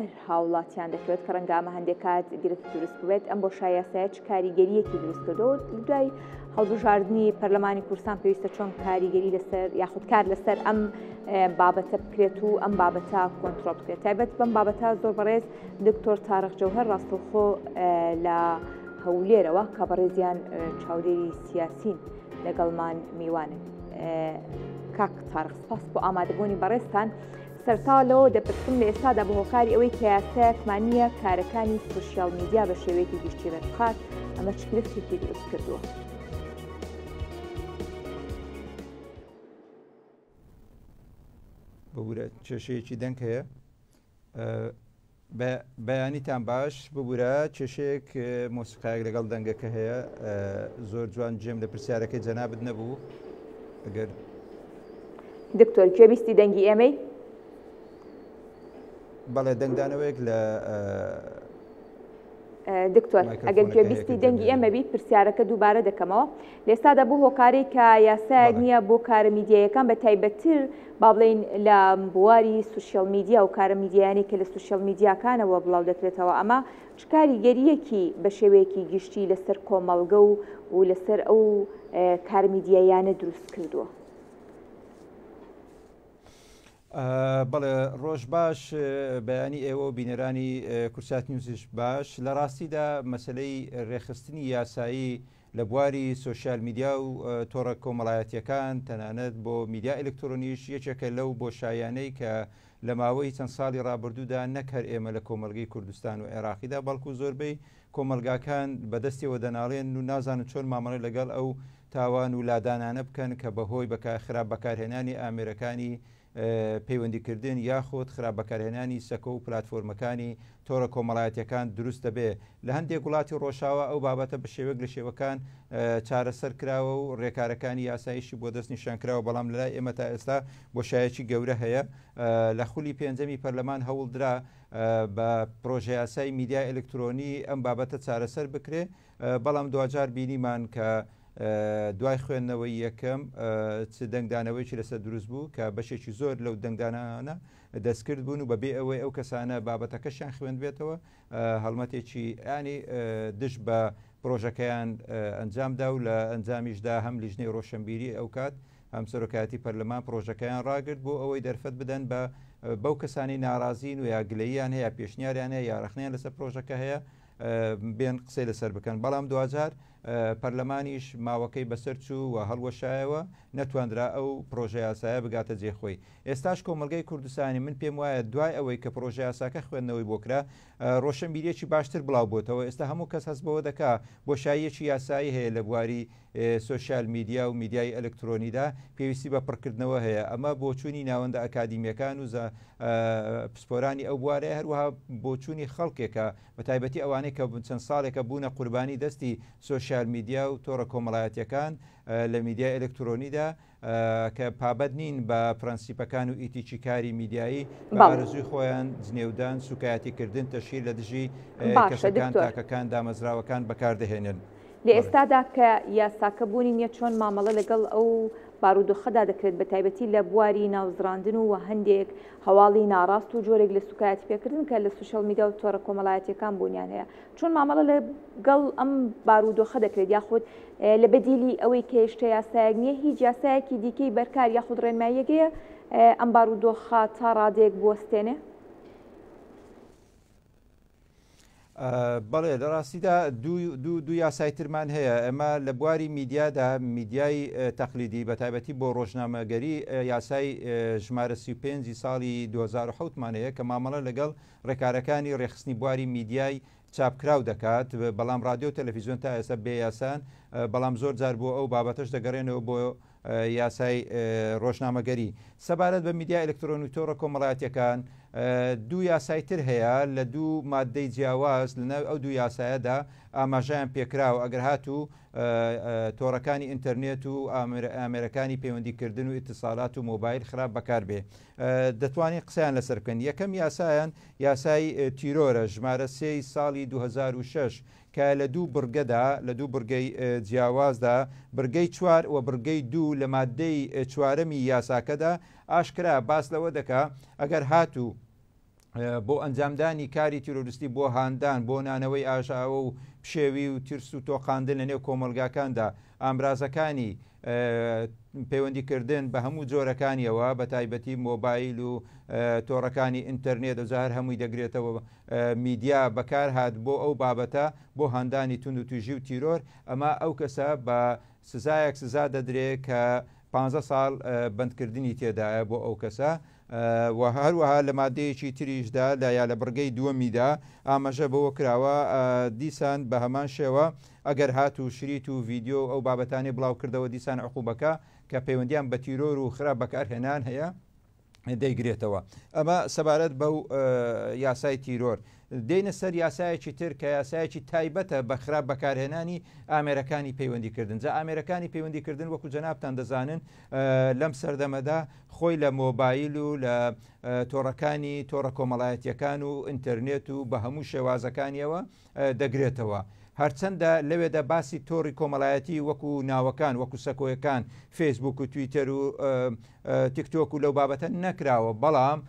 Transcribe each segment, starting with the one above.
هەر هاوڵاتیان دەکەوێت کە ڕەنگە ئەمە هەندێک کات گرفت دروست بێت ئەم بۆ شایاسایە چ کاریگەریەکی دروست کردەوە دوای هەڵبژاردننی پەرلەمانی کورسان پێویستە چۆن کاریگەری لەسەر یاخودکار لەسەر ئەم بابەتە بکرێت و ئەم بابەتە کۆنتترۆل بکرێت تایبەت بەم بابەتە زۆر بەڕێز دکتۆر تارەخ جەوهر ڕاستەخۆ لە هەولێرەوە کە بەڕێزیان چاودێری سیاسین لەگەڵمان میوانن کاک تارخ سپاس بۆ ئامادەبوونی بەڕێستان سەرتاوە لەوە دەپرسم لە ئێستادا بە هۆکاری ئەوەی کە یاسایەک مانیە کارەکانی سوسیال میدیا بە شێوەیەکی گشتی ڕێکخات ئەمە چ گرفتێکی دروست کردووە؟ ببورە کێشەیەکی دەنگ هەیە بە بەیانیتان باش ببورە کێشەیەک مۆسیقایەک لەگەڵ دەنگەکە هەیە زۆر جوان جێم لە پرسیارەکەی جەنابت نەبوو ئەگەر دکتۆر گوێبیستی دەنگی ئێمەی بەڵێ دەنگدانەوەیەک لە دکتۆر ئەگەر گوێبیستی دەنگی ئێمە بیت پرسیارەکە دووبارە دەکەمەوە لێستادا بۆ هۆکارێک کە یاسایەک نییە بۆ کارە میدیایەکان بە تایبەتتر با بڵین لە بواری سوسیال میدیا و کارە میدیانی کە لە سوسیال میدیاکانەوە بڵاو دەکرێتەوە ئەمە چکاری گەریەکی بە شێوەیەکی گشتی لەسەر کۆمەڵگە و و لەسەر ئەو کار میدیایانە دروست کردووە. بەڵێ ڕۆژ باش بەیانی ئێوە و بینەرانی کورسات نیوزیش باش لە ڕاستیدا مەسلەی ڕێخستنی یاسایی لە بواری سوسیال میدیا و تۆڕە کۆمەڵایەتیەکان تەنانەت بۆ میدیا ئەلکترۆنیش یەکێکە لەو بۆ شایانەی کە لە ماوەی چەند ساڵی ڕابردوودا نەک هەر ئێمە لە کۆمەلگەی کوردستان و عێراقیدا بەڵکو زۆربەی کۆمەڵگاکان بە دەستیەوە دەناڵێنن و نازانن چۆن مامەڵەی لەگەڵ ئەو تاوان و لادانانە بکەن کە بە هۆی بە خراپ بەکارهێنانی ئامێرەکانی پەیوەندیکردن یاخود خراپ بەکارهێنانی سەکۆ و پلاتفۆرمەکانی تۆڕە کۆمەڵایەتیەکان دروست دەبێ لە هەندێک وڵاتی ڕۆژاوا ئەو بابەتە بە شێوەیەک لە شێوەکان چارەسەر کراوە و ڕێکارەکانی یاسایشی بۆ دەست نیشان کراوە بەڵام لەلای ئێمە تا ئێستا بۆشایەکی گەورە هەیە لە خولی پێنجەمی پەرلەمان هەوڵدرا بە پرۆژەیاسای میدیای ئەلکترۆنی ئەم بابەتە چارەسەر بکرێ بەڵام دواجار بینیمان کە دوای خوێندنەوەی یەکەم چ دەنگدانەوەیکی لەسەر دروست بوو کە بەشێکی زۆر لەو دەنگدانانە دەستکرد بوون و بەبێ ئەوەی ئەو کەسانە بابەتەکەشیان خوێندبێتەوە هەڵمەتێکی ئەنی دژ بە پرۆژەکەیان ئەنجامدا و لە ئەنجامیشدا هەم لیژنەی ڕۆشنبیری ئەو کات هەم سەرۆکایەتی پەرلەمان پڕۆژەکەیان ڕاگرت بۆ ئەوەی دەرفەت بدەن بە بەو کەسانی ناڕازین و یا گلەییان هەیە پێشنیاریان هەیە یاڕخنیان لەسەر پرۆژەکە هەیە بێن قسەی لەسەر بکەن بەڵام دوجار پەرلەمانیش ماوەکەی بەسەر چوو و هەڵوەشایەوە نەتواندرا ئەو پرۆژە یاسایە بگاتە جێخۆی ئێستاش کۆمەلگای کوردستانی من پێم وایە دوای ئەوەی کە پرۆژە یاساکە خوێندنەوەی بۆکرا ڕۆشنبیریەکی باشتر بڵاو بۆتەوە ئێستا هەموو کەس هەست بەوە دەکا بۆشاییەکی یاسایی هەیە لە بواری سۆشیال میدیا و میدیای ئەلکترۆنیدا پێویستی بە پڕکردنەوە هەیە ئەمە بۆچوونی ناوەندە ئەکادیمیەکان و پسپۆرانی ئەو بوارەیە هەروەها بۆچوونی خەڵکێکە بە تایبەتی ئەوانەی کە چەند ساڵێکە بوونە قوربانی دەستی سۆشیال میدیا و تۆڕە کۆمەڵایەتەکان لە میدیای ئەلکترۆنیدا کە پابەند نین بە پرەنسیپەکان و ئیتیکی کاری میدیایی بە ئارزوی خۆیان جنێودان سوکایەتیکردن تەشیر لە دژی کەسەکان تاکەکان دامەزراوەکان بەکاردەهێنن. لە ئێستادا کە یاساکە بوونی نییە چۆن مامەڵە لەگەڵ ئەو بارودۆخەدا دەکرێت بە تایبەتی لە بواری ناوزڕاندن و وە هەندێک هەواڵی ناڕاست و جۆرێک لە سوکایەتیپێکردن کە لە سوشیاڵ میدیا و تۆڕە کۆمەڵایەتییەکان بوونیان هەیە چۆن مامەڵە لە گەڵ ئەم بارودۆخە دەکرێت یاخود لە بەدیلی ئەوەی کە هێشتە یاسایەک نییە هیچ یاسایەکی دیکەی بەرکار یاخود ڕێنماییەکەیە ئەم بارودۆخە تا ڕادێک بوەستێنێ؟ بەڵێ لە ڕاستیدا دوو یاسای ترمان هەیە ئەمە لە بواری میدیادا میدیای تەقلیدی بە تایبەتی بۆ ڕۆژنامەگەری یاسای ژمارە 35 ساڵی 2010مانەیە کە مامەڵە لەگەڵ ڕێکارەکانی ڕێکخستنی بواری میدیای چاپکراو دەکات، بەڵام ڕادیۆ و تەلەفیزیۆن تا ئێستا بێ یاسان، بەڵام زۆر جار بۆ ئەو بابەتەش دەگەرێنەوە بۆ یاسای ڕۆژنامەگەری. سەبارەت بە میدیا ئەلکترۆنی و تۆڕە کۆمەڵایەتیەکان، دوو یاسای تر هەیە لە دوو ماددەی جیاواز، لە ناوی ئەو دوو یاسایەدا ئاماژەیان پێکراوە، ئەگەر هاتوو تۆڕەکانی ئینتەرنێت و ئامێرەکانی پەیوەندی کردن و ئیتسالات و مۆبایل خراپ بەکار بێ. دەتوانین قسەیان لەسەر بکەین یەکەم یاسایان یاسای تیرۆرە ژمارە سێی ساڵی 2006 کە لە دوو بڕگەدا لە دوو بڕگەی جیاوازدا بڕگەی چوار و بڕگەی دوو لە مادەی چوارەمی یاساکەدا ئاشکرا باس لەوە دەکا ئەگەر هاتوو بۆ ئەنجامدانی کاری تیرۆریستی بۆ هاندان بۆ نانەوەی ئاژاوە و پشێوی و ترس و تۆقااندن لە نێو کۆمەلگاکاندا ئامرازەکانی پەیوەندیکردن بە هەموو جۆرەکانیەوە بە تایبەتی مۆبایل و تۆڕەکانی ئینتەرنێت و جار هەمووی دەگرێتەوە میدیا بەکار هاات بۆ ئەو بابەتە بۆ هاندانی تون و توژی و تیرۆر ئەمە ئەو کەسە بە سزایەک سزا دەدرێت کە 15 ساڵ بەندکردنی تێدایە بۆ ئەو کەسە و هەروەها لە ماددەیەکی تریشدا لە یا لە بڕگەی دووەمیدا ئامەژە بەوە کراوە دیسان بە هەمان شێوە ئەگەر هات و شریت و ڤیددیو ئەو بابەتانی بڵاو کردەوە دیسان عقوبەکە کە پەیوەندیان بە تیرۆر و خراپ بەکارهێنان هەیە دەیگرێتەوە ئەمە سەبارەت بەو یاسای تیرۆر دێنە سەر یاسایەکی تر کە یاسایەکی تایبەتە بە خراپ بەکارهێنانی ئامێرەکانی پەیوەندیکردن جا ئامێرەکانی پەیوەندیکردن وەکو جەنابان دەزانن لەم سەردەمەدا خۆی لە مۆبایل و لە تۆڕەکانی تۆڕە کۆمەڵایەتیەکان و ئینتەرنێت و بە هەموو شێوازەکانیەوە دەگرێتەوە هەرچەندە لەوێدا باسی تۆری کۆمەڵایەتی وەکو ناوەکان وەکو سەکۆیەکان فەیسبوک و تویتەر و تیکتۆک و لەو بابەتە نەکراوە بەڵام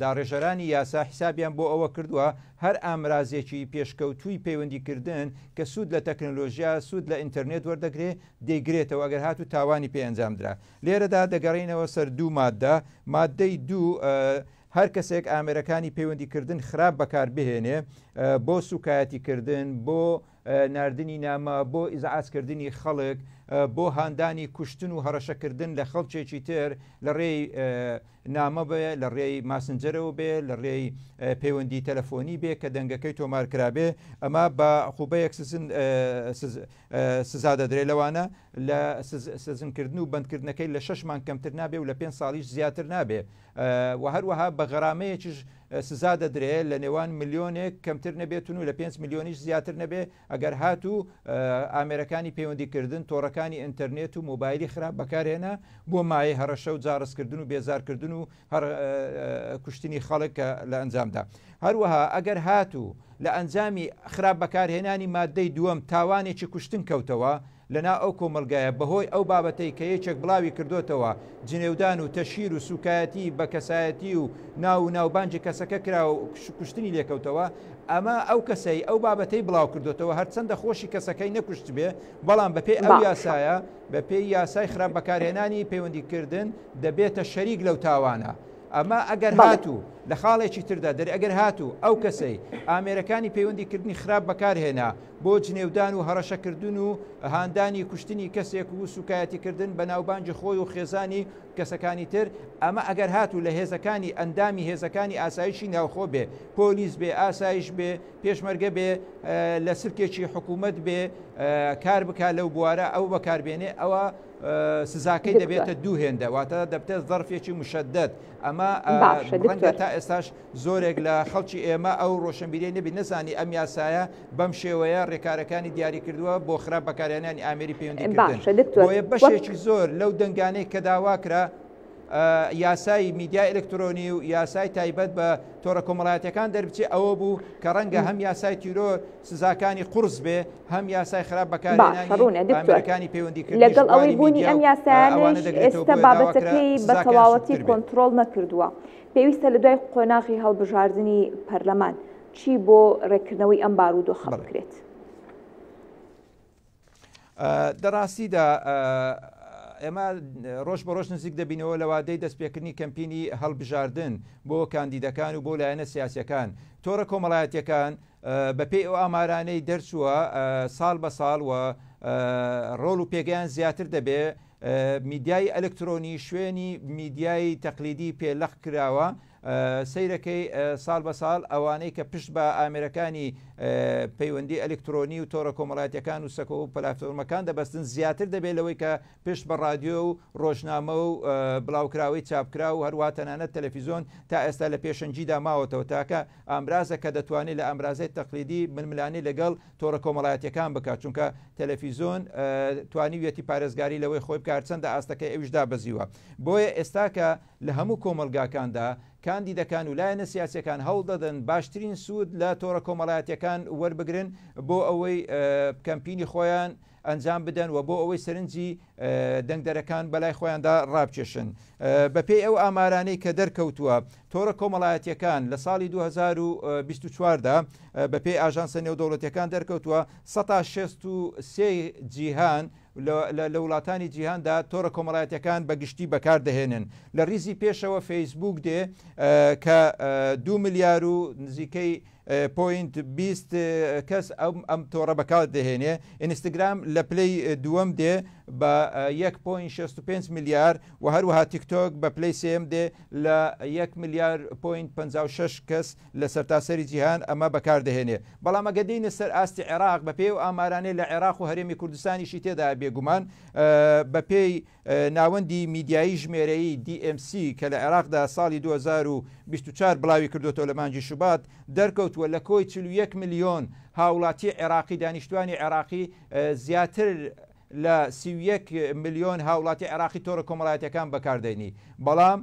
داڕێژەرانی یاسا حیسابیان بۆ ئەوە کردووە هەر ئامرازێکی پێشکەوتووی پەیوەندیکردن کە سوود لە تەکنۆلۆژیا سوود لە ئینتەرنێت وەردەگرێ دەیگرێتەوە ئەگەر هاتوو تاوانی پێ ئەنجام درا. لێرەدا دەگەڕێینەوە سەر دوو ماددە، ماددەی دوو، هەر کەسێک ئامێرەکانی پەیوەندی کردن خراپ بەکار بهێنێ بۆ سووکایەتی کردن، بۆ ناردنی نامە، بۆ ئیزعاج کردنی خەڵک، بۆ هاندانی کوشتن و هەڕەشە کردن لە خەڵکێکی تر لە ڕێی نامە بێ، لە ڕێی ماسنجەرەوە بێ، لە ڕێی پەیوەندی تەلەفۆنی بێ کە دەنگەکەی تۆمار کرابێ، ئەمە بە عقوبەیەک سزا سزا دەدرێت لەوانە لە سجنکردن و بەندکردنەکەی لە شەش مانگ کەمتر نابێ و لە پێنج ساڵیش زیاتر نابێ و هەروەها بە غەرامەیەکیش سزا دەدرێت لە نێوان ملیۆنێک کەمتر نەبێتون و لە پێنج ملیۆنیش زیاتر نەبێ ئەگەر هات و ئامێرەکانی پەیوەندیکردن تۆڕەکانی ئینتەرنێت و مۆبایلی خراپ بەکارهێنا بۆ مایە هەڕەشە و جاڕستکردن و بێزارکردن و هەر کوشتنی خەڵک کە لە ئەنجامدا هەروەها ئەگەر هاتوو لە ئەنجامی خراپ بەکارهێنانی مادەی دووەم تاوانێکی کوشتن کەوتەوە لەنا ئەو کۆمەلگایە بەهۆی ئەو بابەتەی کە یەکێک بڵاوی کردوتەوە جنێودان و تەشیر و سوکایەتی بە کەسایەتی و ناو و ناوبانجی کەسەکە کرا و کوشتنی لێکەوتەوە ئەمە ئەو کەسەی ئەو بابەتەی بڵاو کردوتەوە هەرچەندە خۆشی کەسەکەی نەکوشت بێ بەڵام بەپێی ئەو یاسایە بەپێی یاسای خراپ بەکارهێنانی پەیوەندیکردن دەبێتە شەریک لەو تاوانە. ئەمە ئەگەر بەڵێ. هاتوو لە خاڵێکی تردا دەر ئەگەر هاتوو ئەو کەسەی ئامێرەکانی پەیوەندی کردنی خراپ بەکار هێنا بۆ جنێودان و هەڕەشە کردن و هاندانی کوشتنی کەسێک و سوکایەتی کردن بە ناوبانگی خۆی و خێزانی کەسەکانی تر ئەمە ئەگەر هاتوو لە هێزەکانی ئەندامی هێزەکانی ئاسایشی ناوخۆ بێ پۆلیس بێ ئاسایش بێ پێشمەرگە بێ لە سلکێکی حکوومەت بێ کار بکا لەو بوارە ئەو بەکاربێنێ ئەوە سزاکەی دەبێتە دوو هێندە واتە دەبتێت ظرفێکی مشدد ئەمە ڕەنگە تا ئێستاش زۆرێک لە خەڵکی ئێمە ئەو ڕۆشنبیری نەبی نەزانی ئەم یاسایە بەم شێوەیە ڕێکارەکانی دیاری کردووە بۆ خرا بەکارێنانی ئامری پەیوەندی بۆیە بەشێکی زۆر لەو دەنگانەی کە داواکرا یاسای میدیا ئەلکترۆنی و یاسای تایبەت بە تۆڕە کۆمەڵایەتەکان دەربچێ ئەوە بوو کە ڕەنگە هەم یاسای تیرۆر سزاکانی قورس بێ هەم یاسای خراپ باشە بەکارهێنانی ڕوونە دکتۆر ئامێرەکانی پەیوەندیکردنیش لەگەڵ ئەوەی لانی بوونی میدیا ئەم و ئەوانە یاسایانەیش دەگرێتەوە ئێستا بۆیە داوا کرا بابەتەکەی بە سزاکەیان تەواوەتی سوکتر بێ. کۆنتڕۆڵ نەکردووە پێویستە لە دوای قۆناغی هەڵبژاردنی پەرلەمان چی بۆ ڕێککردنەوەی ئەم بارودۆخە بەڵێ. بکرێت؟ لە ڕاستیدا ئێمە ڕۆژ بە ڕۆژ نزیک دەبینەوە لە وادەی دەستپێکردنی کەمپینی هەڵبژاردن بۆ کاندیدەکان و بۆ لایەنە سیاسەکان تۆڕە کۆمەڵایەتەکان بەپێی ئەو ئامارانەی دەرچووە ساڵ بە ساڵ و ڕۆڵ و پێگەیان زیاتر دەبێ میدیای ئەلکترۆنی شوێنی میدیای تەقلیدی پێلەق کراوە سەیرەکەی ساڵ بە ساڵ ئەوانەی کە پشت بە ئامێرەکانی پەیوەندی ئەلکترۆنی و تۆڕە کۆمەڵاتیەکان و سەکۆ و پلاتۆرمەکان دەبەستن زیاتر دەبێت لەوەی کە پشت بە رادیۆ و ڕۆژنامە و بڵاوکراوەی چاپکرا و هەروە تەنانەت تەلەفیزۆن تا ئێستا لە پێشەنجیدا ماوەتەوە تاکە ئامرازە کە دەتوانێت لە ئامرازەی تەقلیدی ململانی لەگەڵ تۆڕە کۆمەڵاتیەکان بکات چونکە تەلەفیزۆن توانیویەتی پارێزگاری لەوەی خۆی بکار چەندە ئاستەکەی ئەوش دابەزیوە بۆیە ئێستا کە لە هەموو کۆمەڵگاکاندا، کاندیدەکان و لایەنە سیاسییەکان هەوڵ دەدەن باشترین سوود لە تۆڕە کۆمەڵایەتییەکان وەربگرن بۆ ئەوەی کەمپینی خۆیان ئەنجام بدەن و بۆ ئەوەی سەرنجی دەنگدەرەکان بەلای خۆیاندا ڕابکێشن. بەپێی ئەو ئامارانەی کە دەرکەوتووە، تۆڕە کۆمەڵایەتییەکان لە ساڵی دوو هەزار و بیست و چوار دا، بەپێی ئاژانسە نێودەوڵەتییەکان دەرکەوتووە، سەتا شەست و سێ جیهان، لە وڵاتانی جیهاندا تۆڕە کۆمەڵایەتیەکان بە گشتی بەکار دەهێنن لە ریزی پێشەوە فەیسبووک دێ کە دو ملیار و نزیکەی پوینت بیست کەس ئەم ئەم تۆڕە بەکار دەهێنێ ئینستاگرام لە پلەی دووەم دێ بە 1.65 ملیار و هەروەها تیکتۆک بە پلەی سێم دێ لە 1 ملیار پوینت 56 کەس لە سەرتاسەری جیهان ئەمە بەکاردەهێنێ، بەڵام ئەگەر دێینە سەر ئاستی عێراق بەپێی ئەو ئامارانەی لە عێراق و هەرێمی کوردستانیشی تێدایە بێگومان بەپێی ناوەندی میدیایی ژمێرەیی DMC کە لە عێراقدا ساڵی دوو هەزار و بیست و چوار بڵاویکردۆتەوە لە مانگی شوبات دەرکەوتووە لە کۆی چل و یەک ملیۆن هاوڵاتی عێراقی دانیشتوانی عێراقی زیاتر لە سی و یەک ملیۆن هاوڵاتی عێراقی تۆڕە کۆمەڵایەتیەکان بەکاردەینی بەڵام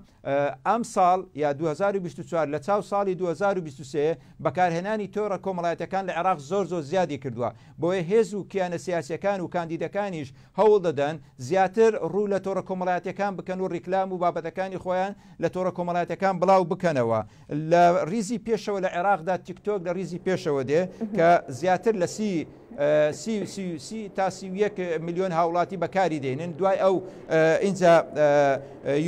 ئەم ساڵ یا دوو هەزار و بیست و چوار لە چاو ساڵی دوو هەزار و بیست و سێ بەکارهێنانی تۆڕە کۆمەڵایەتیەکان لە عێراق زۆر زۆر زیادی کردووە بۆیە هێز و کیانە سیاسیەکان و کاندیدەکانیش هەوڵ دەدەن زیاتر ڕوو لە تۆڕە کۆمەڵایەتیەکان بکەن و ڕیکلام و بابەتەکانی خۆیان لە تۆڕە کۆمەڵایەتیەکان بڵاو بکەنەوە لە ریزی پێشەوە لە عێراقدا تیکتۆک لە ریزی پێشەوە دێ کە زیاتر لە سی سی و سی و سی تا سی و یەک ملیۆن هاوڵاتی بەکاری دێنن دوای ئەو ئینجا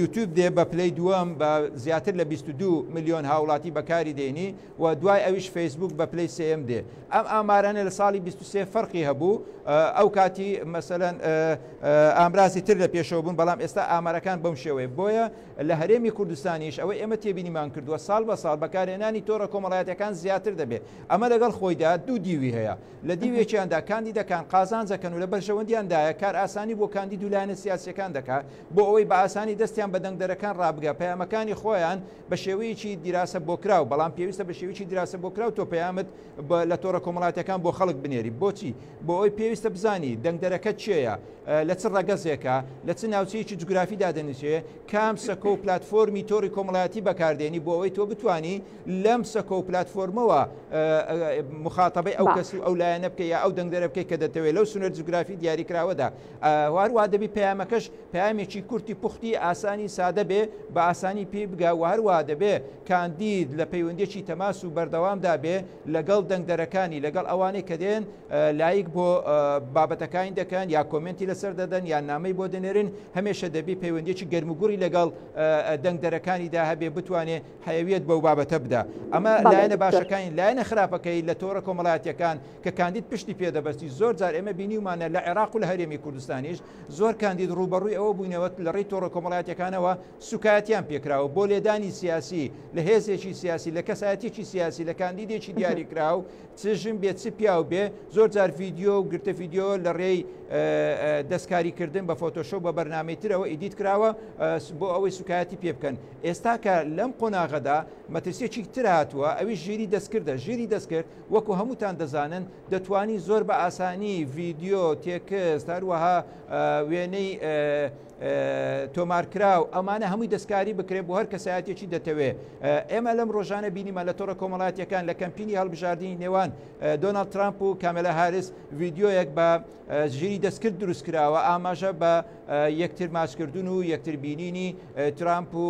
یوتیوب دێ بە پلەی دووەم بە زیاتر لە 22 ملیۆن هاوڵاتی بەکاری دێنی و دوای ئەویش فەیسبوک بە پلەی سم دێ ئەم ئامارانە لە ساڵی 23 فەرقی هەبوو ئەو کاتی مەسەەن ئامرازی تر لە پێشەوە بوون بەڵام ئێستا ئامارەکان بەم شێوەیە بۆیە لە هەرێمی کوردستانیش ئەوەی ئێمە تێبینیمان کردووە ساڵ بە ساڵ بەکارهێنانی تۆڕە کۆمەڵایەتییەکان زیاتر دەبێت، ئەمە لەگەڵ خۆیدا دوو دیوی هەیە، لە دیوێکیاندا کاندیدەکان قازانج دەکەن و لە بەرژەوەندیاندایە، کارئاسانی بۆ کاندید و لایەنە سیاسییەکان دەکات بۆ ئەوەی بە ئاسانی دەستیان بە دەنگدەرەکان ڕابگات پەیامەکانی خۆیان بە شێوەیەکی دیراسەبۆکراو، بەڵام پێویستە بە شێوەیەکی دیراسەبۆکراو تۆ پەیامت لە تۆڕە کۆمەڵاتیەکان بۆ خەڵک بنێری بۆچی بۆ ئەوی پێویستە بزانی دەنگدەرەکە چێە لە چ ڕەگەزێکە لە چ ناوچەیەکی جوگرافی دادەنیچێ کام سەکۆ و پلتفۆرمی تۆری کۆمەڵایەتی بەکاردێنی بۆ ئەوەی تۆ بتانی لەم سەکۆ و پلتفۆرمەوە مخاتەبەی ئەو کەس و ئەو لایەنە بکە یا ئەو دەنگدەرە بکەی کە دەتەوێت لەو سنەر جوگرافی دیاریکراوەدا هەروە دەبی پەیامەکەش پامێکی کورتی پوختی ئاسانی سادە بێ بە ئاسانی پێی بگا و هەروە دەبێ کاندید لە پەیوەندیەکی تەماس و بەردەوامدا بێ لەگەڵ دەنگدەرەکانی، لەگەڵ ئەوانەی کە دێن لایک بۆ بابەتەکانی دەکەن یا کۆمێنتی لەسەر دەدەن یان نامەی بۆ دەنێرن، هەمێشە دەبی پەیوەندیەکی گەرموگوڕی لەگەڵ دەنگدەرەکانیدا هەبێ بتوانێ حەیەویەت بەو بابەتە بدا. ئەمە لایەنە باشەکانی، لایەنە خراپەکەی لە تۆڕە کۆمەڵایەتیەکان کە کاندید پشتی پێ دەبەستی، زۆر جار ئێمە بینیومانە لە عێراق و لە هەرێمی کوردستانیش زۆر کاندید ڕووبەڕووی ئەوە بووینەوە لەڕێی تۆڕە کۆمەڵایەتیەکانەوە، سوکایەتیان پێکراوە بۆ لێدانی سیاسی لە هێزێکی سیاسی لە کەسایەتێکی سیاسی لە کاندیدێکی دیاریکراو چ ژن بێ چ پیاو بێ زۆر جار ڤیددیو و گرتە ڤیددیو لە ڕێی دەستکاریکردن بە فۆتۆشۆ بە بەرنمەی ترەوە ئیدیت کراوە بۆ ئەوەی سوکایەتی پێ بکەن ئێستا کە لەم قۆناغەدا مەترسیەکی تر هاتووە ئەوی ژیری دەستکردە ژیری دەستکرد وەکو هەمووتان دەزانن دەتوانی زۆر بە ئاسانی ڤیددیو تێکست هەروەها وێنەی تۆمارکراو، ئەمانە هەمووی دەستکاری بکرێت بۆ هەر کەسایەتیەکی دەتەوێ. ئێمە لەم ڕۆژانە بینیمان لە تۆڕە کۆمەڵاتیەکان لە کەمپینی هەڵبژاردنی نێوان دۆناڵد ترامپ و کامێلا هاریس ڤیدیۆیەک بە ژیری دەستکرد دروست کراوە ئاماژە بە یەکتر ماچکردن و یەکتر بینینی ترامپ و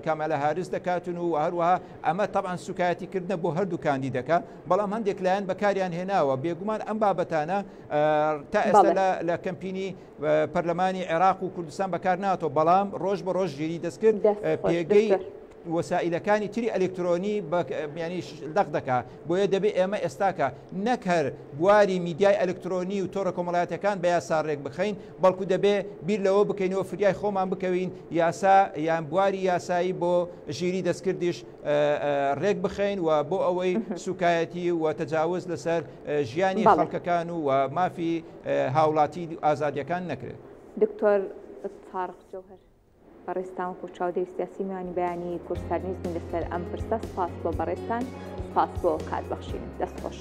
کامێلا هاریس دەکاتون و هەروەها ئەمە طبعا سوکایەتی کردنە بۆ هەردوو کاندیدەکە بەڵام هەندێک لایەن بەکاریان هێناوە بێگومان ئەم بابەتانە تا ئێستا لە کەمپینی پەرلەمانی عێراق و کوردستان بەکارناتەوە بەڵام ڕۆژ بە ڕۆژ ژیری دەستکرد پێگەی وەسائلەکانی تری ئەلکترۆنی بەیانی دەق دەکا بۆیە دەبێت ئێمە ئێستاکە نەکەر بواری میدیای ئەلکترۆنی و تۆرە کۆمەڵاتەکان بە یاسا ڕێک بخەین بەڵکو دەبێ بیر لەوە بکەینەوە فریای خۆمان بکەوین یاسا یان بواری یاسایی بۆ ژیری دەستکردیش ڕێک بخەین و بۆ ئەوەی سوکایەتی و تەجاوز لەسەر ژیانی خەڵکەکان و مافی هاوڵاتی ئازادیەکان نەکرێت. دکتۆر تارق جەوهەر بەڕێزتان وەکو چاودێری سیاسی میوانی بەیانی کوردستان نیوز بوون لەسەر ئەم پرسە سپاس بۆ بەڕێزتان سپاس بۆ کات بەخشینت دەست خۆش.